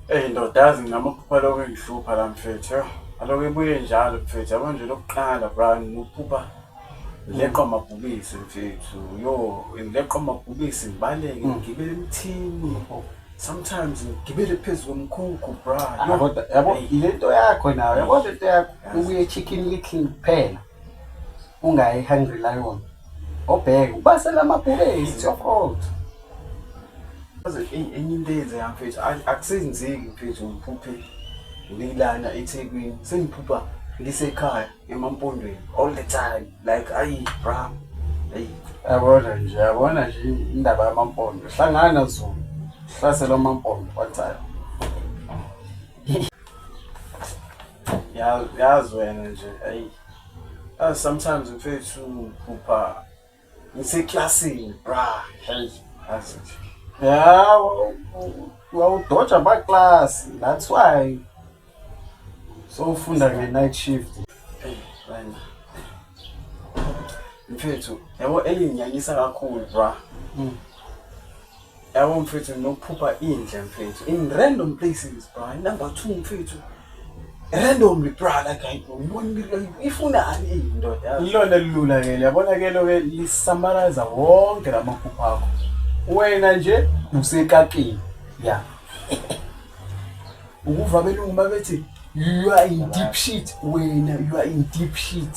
Eyi ndoda yazi ngizama ukuphupha lokho engihlupha la mfethu yho. Aloku ibuye njalo mfethu yabo nje lokuqala brani nokuphupha ngileqwa amabhubisi mfethu yho ngileqwa amabhubisi ngibaleke ngigibele emthini sometimes ngigibele phezu komkhukhu bra Ah, yho. kodwa yabo Eyi. ile nto yakho nayo yabo le nto yakho ubuye chicken little kuphela ungayi hungry lion obheke ubasela amabhubesi it's your fault enye into eyenzeka mfethu akusenzeki mfethu ngiphuphe ngilana ethekwini sengiphupha ngisekhaya emampondweni all the time like ayi bra ayi yabona nje yabona nje indaba yamampondo hlangana zulu hlasela amampondo wathayo yazi wena nje ayi sometimes mfethu phupha ngiseklasini bra hey yazi ya wawudoja amaklasi that's why sowufunda nge-night shift mfethu yabo elinginyanyisa kakhulu bra mm. Yabo mfethu nginokuphupha indle mfethu in random places bra. Number 2 mfethu. Randomly bra like I ngibona ifunani indoda. Ilona elilula ke yabona ke lo ke lisamaraza wonke lamaphupha akho. Wena nje usekakini. Yeah. Ukuva belungu mabethi you are in deep shit wena you are in deep shit.